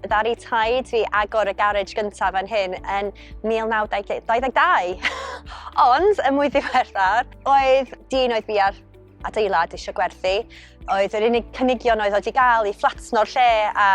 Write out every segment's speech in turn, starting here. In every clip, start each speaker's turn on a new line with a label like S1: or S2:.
S1: Ddaru taid fi agor y garej gyntaf fan hyn yn 1922. Ond, y mwy ddiweddar, oedd dyn oedd fi ar adeilad eisiau gwerthu. Oedd yr unig cynigion oedd oedd i gael i fflatno'r lle a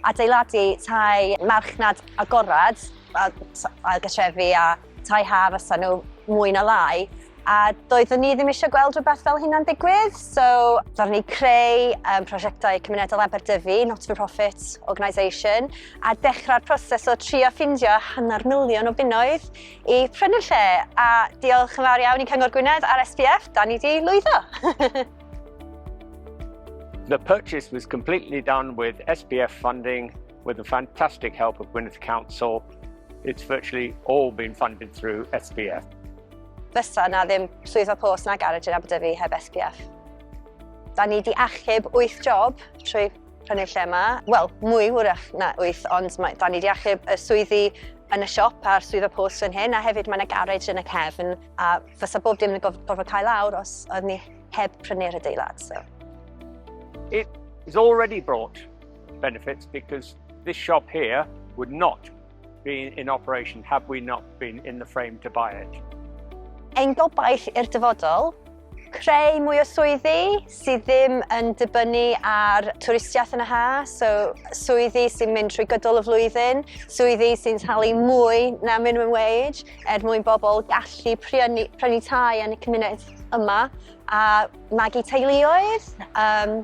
S1: adeiladu tai marchnad agorad a ailgytrefi a tai ha fysa nhw mwy na lai, a doeddwn ni ddim eisiau gweld rhywbeth fel hynna'n digwydd, so roeddwn ni creu um, prosiectau cymunedol Aberdyfi, not for profit organisation, a dechrau'r proses o trio ffindio hanner miliwn o bunnoedd i prynu lle, a diolch yn fawr iawn i Cyngor Gwynedd a'r SPF, da ni di lwyddo. The purchase was completely done with SPF funding With the fantastic help of Gwynedd Council, it's virtually all been funded through SPF. Fysa na ddim swyddfa post na garage yn Aberdyfi heb SPF. Da ni di achub 8 job trwy prynu'r lle yma. Wel, mwy wrach na 8, ond mae, da ni di achub y swyddi yn y siop a'r swyddfa post yn hyn, a hefyd mae yna garage yn y cefn, a fysa bob dim yn gorfod cael awr os oedd ni heb prynu'r adeilad. So. It is already brought benefits because this shop here would not be in operation had we not been in the frame to buy it. Ein gobaith i'r dyfodol, creu mwy o swyddi sydd ddim yn dibynnu ar twristiaeth yn y ha, so swyddi sy'n mynd trwy gydol y flwyddyn, swyddi sy'n talu mwy na minimum wage er mwyn bobl gallu prynu, prynu tai yn y cymuned yma a magu teuluoedd. Um,